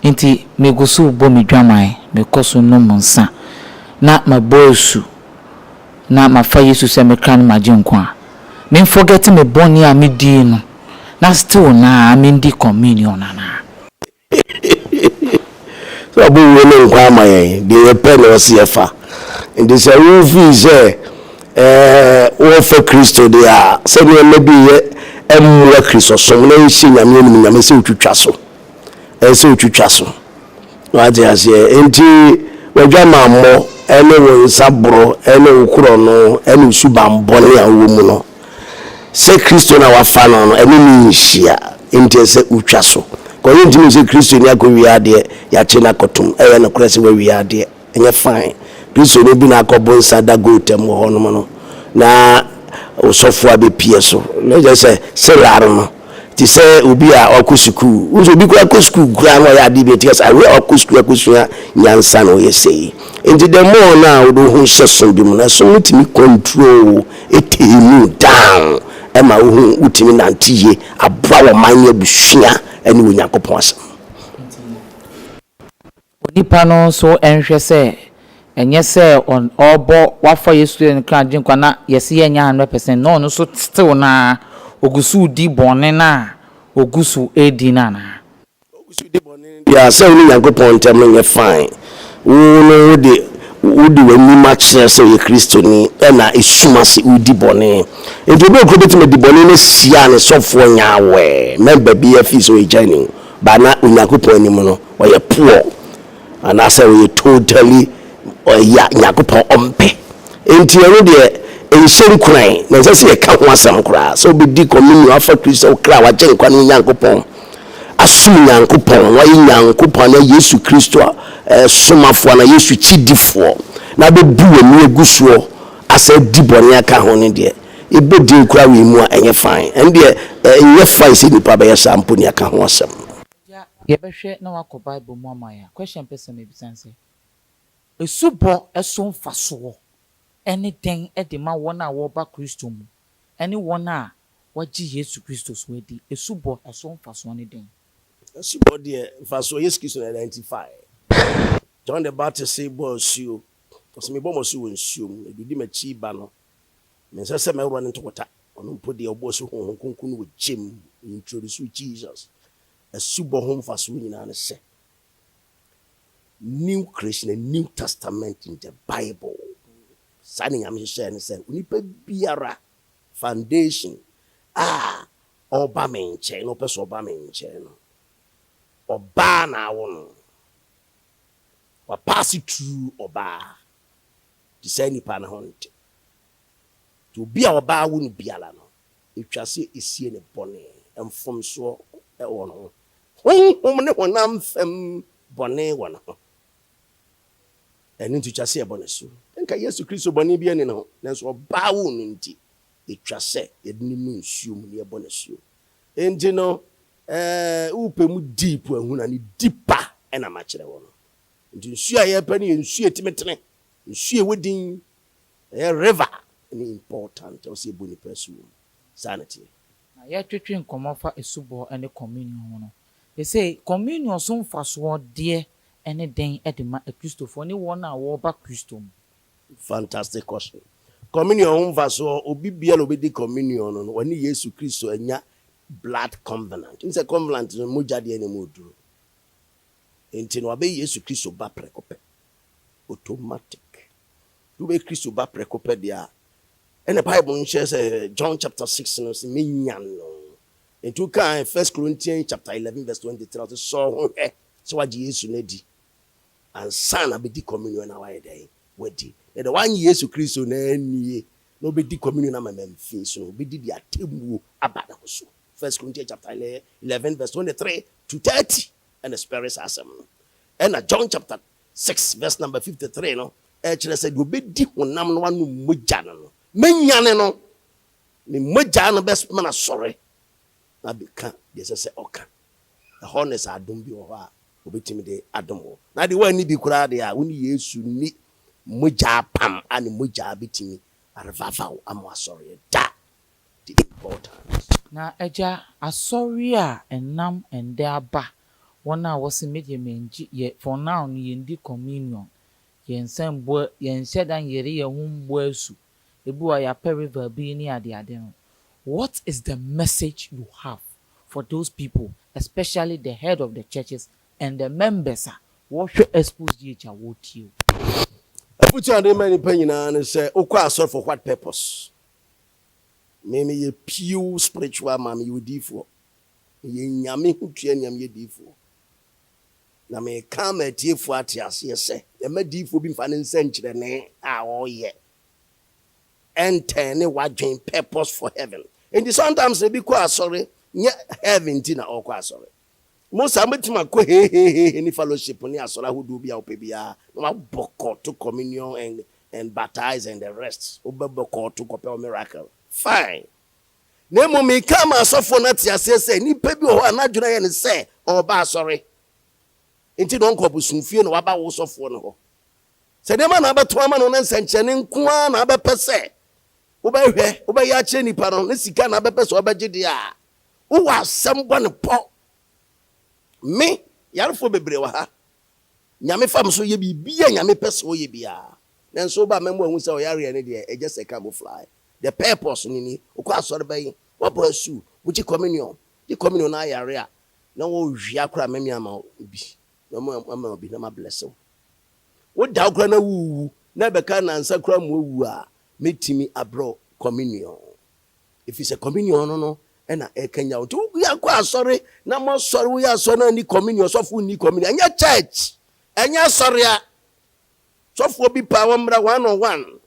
Enti megu so rebɔ me dwaman, mekɔ so nom nsa, na mabɔ asu, na mafa Yesu sɛ me kra ne m'agyenkwa. Menfɔgɛte me bɔne a medii no, na still no ara mendi communion anaa? Sɛ ɔbɛwuo ne nkwa ama yɛn, deɛ yɛpɛ na ɔse yɛfa. Nti sɛ wofii sɛ wɔfa Kristo deɛ a, sɛ nneɛma bi yɛ mmoa Kristosom na ɛnhyɛ Nyame animuonyam, ɛsɛ wotwitwa so. Ɛsɛ wotwitwa so. Wate aseɛ? Nti w'adwamammɔ ne wo nsa borɔ ne wo korɔno ne wo suban bɔne a wowɔ mu no, sɛ Kristo na wafa no no, ɛne no nhyia. Enti ɛsɛ sɛ wotwa so. Kɔ yɛ ntumi sɛ Kristoni akɔwia adeɛ, yɛakye no akɔtom. Ɛyɛ nokorɛ sɛ wawia adeɛ. Ɛnyɛ fine. Kristoni bi na akɔ bonsa da goat mu hɔnom no, na osɔfoɔ abɛpie so. Ɛnyɛ sɛ, sɛ laro no. te sɛ obi a ɔkɔ sukuu. Wohu sɛ obi koraa kɔ sukuu koraa na ɔyɛ adeɛ bi a ɛte sɛ awerɛ a ɔkɔ sukuu akɔsua nyansa na ɔyɛ sei. Nti the more no a wode wo ho hyɛ som bi mu no, som no tumi control wo, ɛtame mu down, ɛma wohu wotumi nante yie, aboa w'ɔman ne abusua ne Onyankopɔn asɛm. Onipa no nso nhwɛ sɛ ɛnyɛ sɛ ɔrebɔ wafa Yesu Kristo ne kra Agyenkwa na yɛse yɛnyɛ hundred percent na ɔno nso still no ara ɔgu so redi bɔne no a ɔgu so redi no anaa? Ɔgu so redi bɔne no deɛ a sɛ wo ne Nyankopɔn ntam no nyɛ fine. Wo no wode wode w'anim akyerɛ sɛ woyɛ Kristoni ɛna esum ase woredi bɔne. Enti obi a ɔkura bɛtumi adi bɔne no asia ne sɔfoɔ nyɛ aware, mɛmba biara fii sɛ ɔyɛ Gyani o but na Onyankopɔn anim no Ɔyɛ poor anaasɛ ɔyɛ totally ɔyɛ a Nyankopɔn ɔmpɛ. Enti ɛno deɛ ɛnhyɛ nkuran na ɛnsɛ sɛ yɛka ho asɛm koraa. Sɛ wobɛdi communion afa Kristo sɛ wo kra a w'agyenkwa ne Onyankopɔn asom Nyankopɔn, na wayɛ Nyankopɔn anaa Yesu Kristo somafoɔ anaa Yesu kyidifoɔ na abɛbu w'ani agu soɔ asan adi bɔne aka ho no deɛ, yɛbɔ din kora wei mu a ɛnyɛ fine. Ɛno deɛ ɛnyɛ fine sɛ nnipa bɛyɛ saa mpo ne yɛaka ho asɛm. Gya, Yɛbɛhwɛ na woakɔ Bible mu ama yɛn a, question a mpɛ sɛ mebisa ne sɛ, Asubɔ so mfasoɔ ne dɛn de ma wɔn a wɔreba Kristo mu ne wɔn a wɔagye Yesu Kristo nso adi? Asubɔ so mfasoɔ ne dɛn? Asubɔ deɛ, mfasoɔ, Yesu Kristo na ɛnti faeɛ. John the Baptist bɔɔ asuo, ɔse, Mebɔ mo asu wɔ nsuo mu, na deɛ ɔdi m'akyi reba no, Mensɛ sɛ mɛworɔ ne ntokota, ɔno mpo deɛ ɔbɔɔ asu Honhom Kronkron no wɔ gye mu, he introduced Jesus. Asubɔ ho mfasoɔ nyinaa ne sɛ, New Creation, a New Testament in the Bible. Saa ne Nyame hyehyɛɛ ne sɛ, onipa biara, foundation, a ɔba me nkyɛn na ɔpɛ sɛ ɔba me nkyɛn no, ɔbaa na awo no. Wapaase through ɔbaa. Te saa nipa no ho nte. Nti obi a ɔbaa wo no biara no, etwa sɛ esie ne bɔne, mfomsoɔ wɔ ne ho, honhom ne honam fam bɔne wɔ ne ho. Ɛno nti etwa sɛ yɛbɔ no asu. Nka Yesu Kristo bɔne biara nni ne ho, nanso ɔbaa wo no nti, etwa sɛ yɛde no nu nsuo mu na yɛbɔ no asu. Enti no, eh, wopɛ mu deep ahunu a, ne deeper na makyerɛ wo no. Nti nsuo a yɛpɛ no yɛ nsuo a ɛtumi tene, nsuo a ɛwɔ din, ɛyɛ river ne important a ɛwɔ sɛ yɛbɔ nnipa asu wɔ mu. Saa na ɛteɛ. Na yɛretwetwe nkɔmmɔ fa asubɔ ne Communion ho no, seesei Communion so mfasoɔ deɛ ne dɛn de ma Akristofoɔ ne wɔn a wɔreba Kristo mu? Fantastic question. Communion ho mfasoɔ, obi biara a ɔbɛdi Communion no no, ɔne Yesu Kristo anya blood covenant. Wonim sɛ covenant no mogya deɛ na ɛmu yɛ duro. Enti no wabɛyɛ Yesu Kristo ba prɛko pɛ. Automatic. Sɛ wobɛyɛ Kristo ba prɛko pɛ deɛ a, ɛna Bible no kyerɛ sɛ John chapter 6 no sɛ menya no. Enti wokaa 1 Corinthians chapter 11 verse 23 ɔsɛ sɛ ɔho hwɛ sɛ wagye Yesu no adi ansa na bɛdi communion na wayɛ dɛn wadi. Na deɛ wanye Yesu Kristo no annie na ɔbɛdi communion ama mamfii so no, ɔbɛdi de atemmuo aba ne ho so. 1 Corinthians chapter 11 verse 23 to 30. ɛna spɛre saa asɛm no. Ɛna John chapter six verse number fifty three no ɛkyerɛ sɛ deɛ ɔbɛdi honam no anom mogya no no, mɛnyane no, ne mogya no bɛsoma no asɔre na abɛka deɛ ɛsɛ sɛ ɔka. Ɛhɔ ne sɛ adom bi wɔ hɔ a wɔbɛtumi de adom wo. Na deɛ woanni bi koraa deɛ a, wo ne Yesu nni mogya apam a ne mogya bɛtumi arevive wo ama woasɔreɛ da. the important. Na agya asɔre a ɛnam ɛndɛ aba wɔn a wɔse megye menngye yɛ for now no yɛndi communion yɛnsan mmɔ yɛnhyɛ da nnyere yɛn ho mmɔ asu ebi wɔ a yɛapɛ river bi ne adeade no what is the message you have for those people especially the head of the churches and the members a wɔhwɛ expose yi agya wɔretie wo. Afotu a mede ma nnipa nyinaa ne sɛ wokɔ asɔre for what purpose? Me me yɛ pure spiritual man me yɛ odiifoɔ me yɛ Nyame ho tua nua me yɛ diifoɔ na me ka ama atiefoɔ ate aseɛ sɛ yɛma diifoɔ bi nfa ne nsɛnkyerɛnne a ɔyɛ ɛntɛne wadwen purpose for heaven nti sometimes ebi kɔ asɔre nyɛ heaven nti na ɔkɔ asɔre Mo saa, mobɛtumi akɔ hehehehe ne fellowship ne asɔre ahodoɔ bi a wopɛ biara na wabɔ kɔɔto communion and and baptize and the rest. Wobɛbɔ kɔɔto kɔpɛ wo miracle. Fine. Na mmom meka ama asɔfoɔ no ate aseɛ sɛ nipa bi wɔ hɔ a n'adwene ayɛ no sɛ ɔreba asɔre nti na ɔnkɔ abosomfie na waba wo sɔfoɔ no hɔ. Sɛ nneɛma na abɛto ama no ne nsɛnkyerɛnne nko ara na abɛpɛ sɛ wobɛhwɛ, wobɛyɛ akyerɛ nipa no ne sika na abɛpɛ sɛ ɔbɛgye deɛ a, Wo wɔ asɛm bɔ no pɔ. Me yarefoɔ bebree wɔ ha. Nyame fa me so yɛ biribi a Nyame pɛ sɛ ɔyɛ biara. Nanso woba a mɛma wahu sɛ ɔyareɛ no deɛ ɛgyɛ sɛ ka mo fly. The purpose no ni. Wokɔ asɔre bɛn? Wabɔ asu? Wogye communion? Gye communion na ayare a na wɔrewia koraa mɛme ama wo bi. Mɛme ama wo bi na ma bless wo. Wo da wo koraa na worewu na ɛbɛka nansa koraa ma wawu a mɛtumi abrɛ wo communion. Ɛfiri sɛ communion no no na ɛrekanyan wo. Nti woyɛnkɔ asɔre na moasɔre woyɛ asɔre na nni communion, sɔfoɔ nni communion. Ɛnyɛ church, ɛnyɛ asɔre a. Sɔfoɔ bi paa wɔmmra one on one.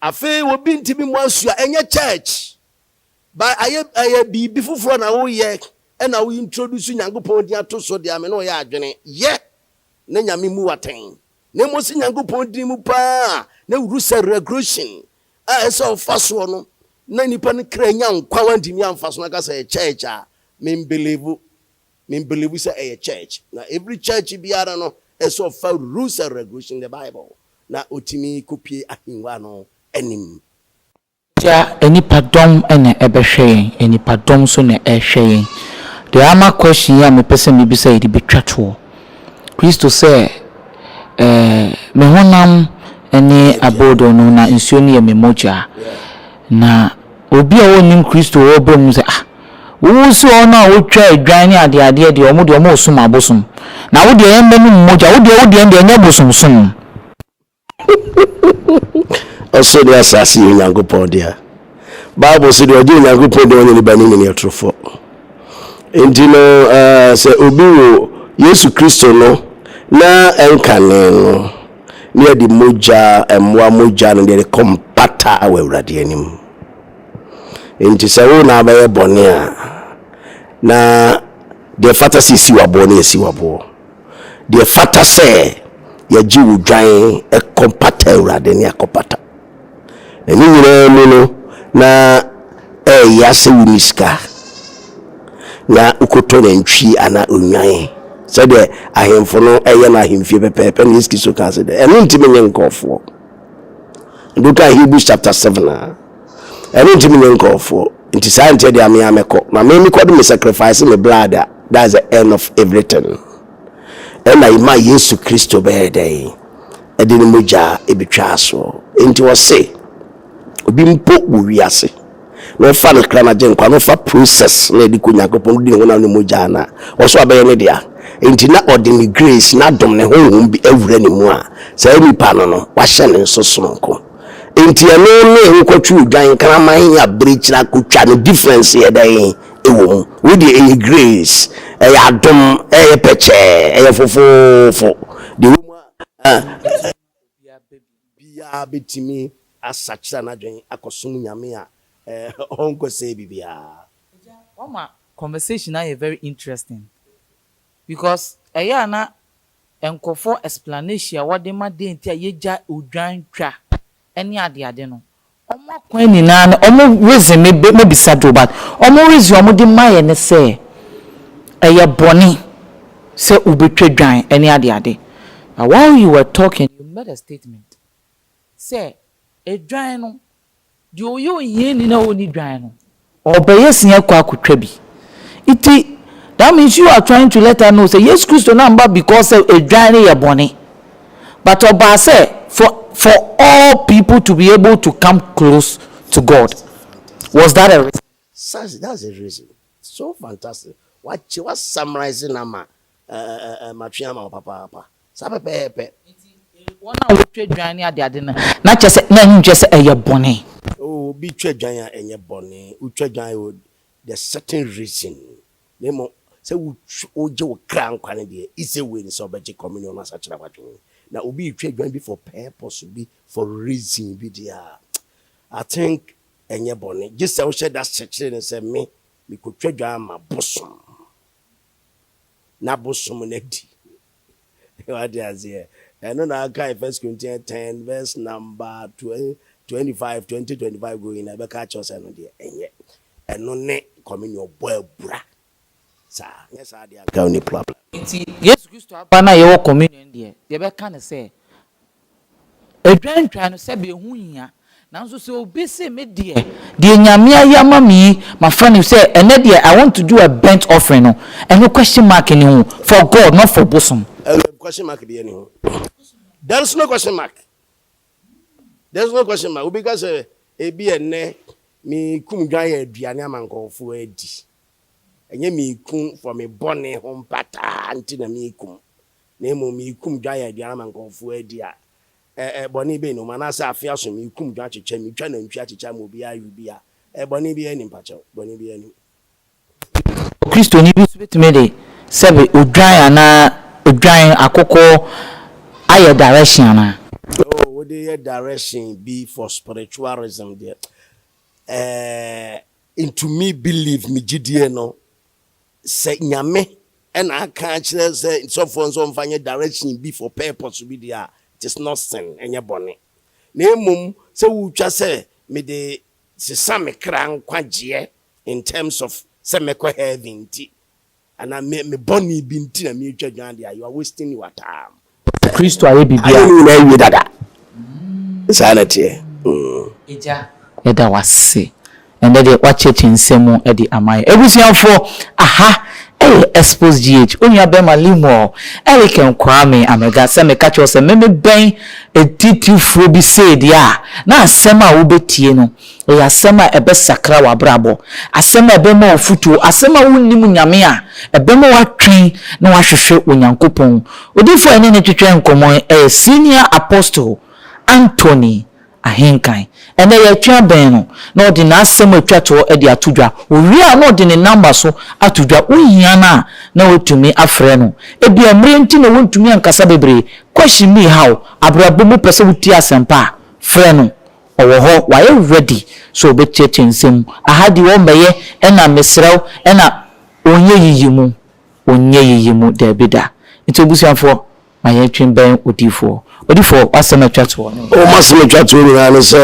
Afei obi ntimi mu asu a, ɛnyɛ church. Ba ayɛ ɛyɛ biribi foforɔ na woyɛ ɛna wo introduce Nyankopɔn din ato so deɛ me ne ɔyɛ adwene. Yɛ na Nyame mu watɛn. Na mmom si Nyankopɔn din mu paa na wuru sɛ regulation. a ɛsɛ ɔfa soɔ no na nipa no kra nya nkwa wantumi amfa so na ka sɛ ɛyɛ church a membelieve membelieve sɛ ɛyɛ church na every church biara no ɛsɛ ɔfa rules and regulation the bible na ɔtumi kɔpie ahengua no anim Tia nnipa dɔm na ɛbɛhwɛ yɛn nnipa dɔm nso na ɛhwɛ yɛn deɛ ama question yi a mepɛ sɛ mebisa yi de bɛtwa toɔ. Kristo sɛ, Ɛɛ, me honam ne abodoo no, na nsuo no yɛ me mogya. Na obi a ɔnnim Kristo a ɔba mu sɛ, Ah, wo wo se wɔn a wɔtwa adwan ne adeadeɛ deɛ, wɔn deɛ wɔresom abosom. Na wo deɛ yɛmmɛ no mu mogya, wo deɛ wo deɛ ɛndeɛ ɛnyɛ bosomsom. Ɔsoro ne asaase yɛ Onyankopɔn dea. Bible se deɛ ɔgye Onyankopɔn deɛ ɔnyɛ ne bani ne neɛtorofoɔ. Nti no uh, sɛ obi wo Yesu Kristo no na ɛnkane no ne yɛde mogya mmoa mogya no deɛ de kɔ mpata wɔ Awurade anim. Nti sɛ wo na abɛyɛ bɔne a na deɛ fata sɛ ɛsi waboɔ ne ɛsi waboɔ. Deɛ ɛfata sɛ yɛgye wo dwan kɔ mpata Awurade ne akɔpata. Na ne nyinaa mu no na ɛyɛ sɛ wonni sika na wokɔtɔ nantwi anaa nnwan sɛdeɛ ahemfo no ɛyɛ no ahemfie pɛpɛɛpɛ na Yesu Kristo kaa sɛ dɛ ɛno nti menyɛ nkurɔfoɔ. Ɛdu ka Hebrews chapter 7 a Ɛno nti menyɛ nkurɔfoɔ nti saa nti ɛdeɛ me ara mɛkɔ na me mekɔ de me sacrifice me blood a that's the end of everything ɛna ɛma Yesu Kristo bɛyɛ dɛn ɛde ne mogya ɛbɛtwa asoɔ nti ɔse obi mpo wɔ wiase na ɔfa no kra no agye nkwa na ɔfa process na ɛde kɔ Nyankopɔn di ne honam ne mogya no a ɔso abɛyɛ ne dea nti na ɔde ne grace na adom ne honhom bi awura ne mu a saa nipa no no wahyɛ ne nso sononko Nti ɛno ne wokɔtworo dwan nkraman a birikyiri akotwa no difference yɛ dɛn ɛwɔ mu? Wei deɛ ɛyɛ grace, ɛyɛ adom, ɛyɛ pɛkyɛɛ, ɛyɛ fofoofo. Deɛ ɛwɔ mu ara ne sɛ obiara bɛtumi asakyera n'adwen akɔsom Nyame a ɔnkɔsɛe biribiara. Agya, wama conversation no ayɛ very interesting. Because ɛyɛ a na nkorɔfoɔ explanation a wɔde ma dɛn nti a yɛgya odwan twa ne ade ade no, wɔn akwan nyinaa no wɔn reason me be me bisa do but wɔn reason a wɔde ma yɛ ne sɛ ɛyɛ bɔne sɛ wobɛtwa dwan ne ade ade but while you were talking you made a statement sɛ edwan no Deɛ ɔyɛ ohiani na ɔnni dwan no. Ɔbɛyɛ sin akɔ akɔtwa bi. Nti, that means you are trying to let us know sɛ Yesu Kristo no amma because sɛ ɛdwan no yɛ bɔne, but ɔbaa sɛ for for all people to be able to come close to God. Was that a reason? Sir, that's a reason. So fantastic. Wakyɛ, wa summarize no ama Ɛɛ, matwe ama wo papaapa. Saa pɛpɛɛpɛ. Enti, wɔn a wɔtwa dwan ne adeade no, na kyerɛ sɛ, na ɛho nkyerɛ sɛ ɛyɛ bɔne. Oo, obi twa dwan a, ɛnyɛ bɔne. Wotwa dwan wɔ the certain reason. Na mmom, sɛ wotwa, wogye wo kra nkwa no deɛ, either way no, sɛ wobɛgye communion no asakyera w'adwene. Na obi retwa dwan bi for purpose bi, for reason bi deɛ a, I think ɛnyɛ bɔne. Gye sɛ wohyɛ da sekyere no sɛ, Me, mekɔtwa dwan ama bosom. n'abosom no adi. Wate aseɛ? Ɛno na akae First Corinthians ten verse number twenty five twenty twenty five going na ɛbɛka akyerɛ sɛ ɛno deɛ ɛnyɛ ɛno ne communion bɔ abura saa nyɛ saa deɛ anka ɔni problem. Nti Yesu Kristo aba no a yɛwɔ communion deɛ deɛ ɛbɛka ne sɛ Edwantwan no sɛbeɛ ho nhia. Nanso sɛ obi se me deɛ, deɛ Nyame ayɛ ama me yi mafa no sɛ ɛnɛ deɛ I want to do a burnt offering no, ɛno question mark nni ho, for God not for bosom. Ɛno question mark biara nni ho. There is no question mark. There is no question mark. Obi ka sɛ ebia ɛnnɛ mekum dwan yɛ aduane ama nkurɔfoɔ adi. Ɛnyɛ mekum for me bɔne ho mpataa nti na mekum. na mmom meekum dwan aduan ama nkurɔfoɔ adi a, ɛ, ɛ, bɔne bɛn na ɔmu? Anaasɛ afeɛ aso meekum dwan akyekyɛ, metwa nantwie akyekyɛ ama obiara awe bi a, ɛ, bɔne biara nnim? Fa kyɛw, bɔne biara nnim. Nanso Kristoni bi nso bɛtumi de sɛbe odwan anaa odwan akokɔ ayɛ direction anaa? Oh, wode yɛ direction bi for spiritualism deɛ, ɛ, ntumi believe me gyidie no. Sɛ Nyame na aka akyerɛ sɛ sɔfoɔ nso ɔmfa nyɛ direction bi for purpose bi deɛ a, it is not sin, ɛnyɛ bɔne. Na mmom sɛ wotwa sɛ mede sesa me kra nkwagyeɛ in terms of sɛ mɛkɔ heaven nti, anaa me bɔne bi nti na meretwa dwan deɛ a, you are wasting your time. Sɛ Kristo ayɛ biribi a. Ayɛ ne nyinaa awie dada. Saa na ɛteɛ. Agya, yɛda wo ase. Ɛnnɛ deɛ woakyerɛkyerɛ nsɛm mu de ama yɛn. Abusuafoɔ, aha yɛ Expos GH. Onua bɛrima Lemuel Eliken Kwame Amega. Sɛ meka kyerɛ wo sɛ memebɛn atitirifoɔ bi sei deɛ a, na asɛm a wobɛtie no Ɛyɛ asɛm a ɛbɛsakra w'abrabɔ, asɛm a ɛbɛma wo fotuo, asɛm a wonnim Nyame a ɛbɛma woatwɛn na woahwehwɛ Onyankopɔn. Odiyifoɔ a yɛne no twetwɛɛ nkɔmmɔ yi yɛ Senior Apostle Anthony Ahenkan. Ɛnnɛ yɛretwɛn abɛn no na ɔde n'asɛm a ɛtwa toɔ de ato dwa. Ɔwie a na ɔde ne namba nso ato dwa, wohia no a na woatumi afrɛ no. Ebia mmerɛ nti na wontumi ankasa bebree, question bi reha wo, abrabɔ mu wopɛ sɛ wotie asɛmpa a, frɛ no. Ɔwɔ hɔ wayɛ ready sɛ ɔbɛtiatia nsɛm mu aha deɛ ɔmmɛyɛ ɛna mesrɛ wo ɛna ɔnyɛ yiyi mu ɔnyɛ yiyi mu daabi da nti abusuafoɔ ma yɛn twe bɛn odiifoɔ odiifoɔ w'asɛm atwa toɔ no. Oh m'asɛm atwa toɔ nyinaa ne sɛ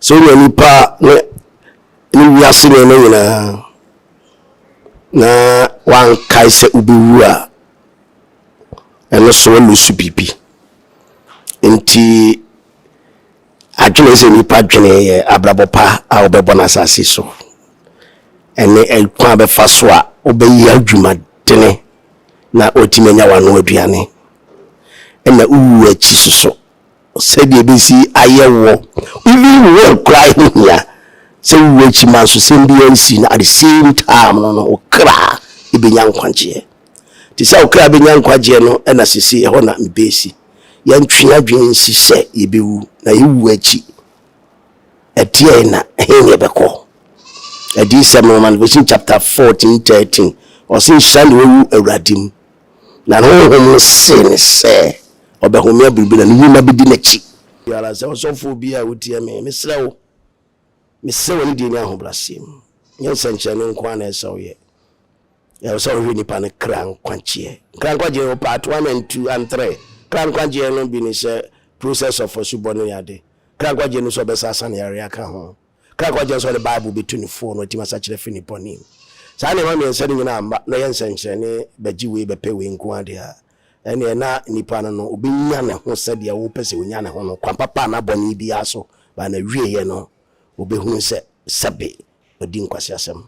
sɛ ɔnya nipa ne ne wiase nneɛma nyinaa na wankae sɛ wobɛwu a ɛno so ɔlusu biribi. Nti adwene sɛ nnipa dwene yɛ abrabɔ pa a wobɛbɔ no asase so ɛne ɛkwan a bɛfa so a wobɛyɛ adwumadene na watumi anya wano aduane ɛna wowu akyi soso sɛdeɛ ɛbɛsi ayɛ wɔ even wɔ koraa ɛho hia sɛ wowu akyi ma nso sɛm bi ansi no at the same time no no wo kra ɛbɛnya nkwagyeɛ Te sɛ ɔkra a benya nkwagyeɛ no na sesei ɛhɔ na mebesi. Yɛntwe adwene nsi sɛ yebewu, na ewu akyi, ɛdeɛn na ɛhe na yɛbɛkɔ? Adiyisɛm nwoma no, Revelation chapter fourteen thirteen, ɔse, Nhyira ne owu Awurade mu, na ne honhom no see no sɛ ɔbɛhome abere bi na ne nnwuma bedi n'akyi. Biara sɛ, Ɔsɔfoɔ bi a wotie me, mesrɛ wo, Mesrɛ wo anidie ne ahobrɛaseɛ mu. Nyɛ nsɛnkyerɛnne nko ara na ɛsɛ sɛ woyɛ. Ɛwɔ sɛ wohwɛ nnipa no kra nkwagyeɛ. Kra nkwagyeɛ wɔ part one and two and three. Kra nkwagyeɛ no bi ne sɛ process of asubɔ no ne ade. Kra nkwagyeɛ no nso ɔbɛsa asa ne yareɛ aka ho. Kra nkwagyeɛ nso ɔde Bible bɛtu ne foo na watumi asakyera afiri ne bɔne mu. Saa nneɛma mmiɛnsa no nyinaa mma na ɛyɛ nsɛnkyerɛnne bɛgye wei bɛpɛ wei nko ara deɛ a, ɛnneɛ na nipa no no ɔbɛnya ne ho sɛdeɛ wopɛ sɛ ɔnya ne ho no, kwan papa anaa bɔne biara so, but n'awieeɛ no ɔbɛhunu sɛ sɛbe wadi nkwaseasɛm.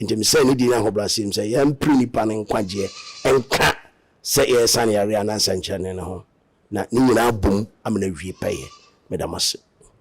Enti mesɛe ne din ne ahobrɛaseɛ mu sɛ yɛmpere nipa no nkwagyeɛ nka sɛ yɛresane yareɛ anaa nsɛnkyerɛnne no ho, na ne nyinaa abom ama no awie pɛyɛ. Meda mo ase.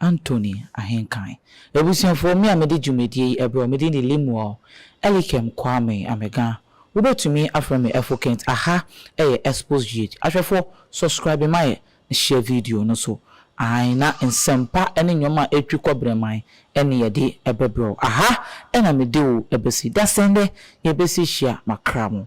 Anthony Ahenkan. Abusuafoɔ, me a mede dwumadie yi brɛ wo, me din de Lemuel Elikem Kwame Amega. Wobɛtumi afrɛ me Ɛfo Kent. Aha yɛ Exposed GH. Ahwɛfoɔ, subscribe ma yɛ na share video no so. Aane, na nsɛmpa ne nnwom a ɛtwi kɔ Brɛman ne yɛde bɛbrɛ wo. Aha na mede wo bɛsi. Dasɛn dɛ yɛbɛsi hyia. Makra mo.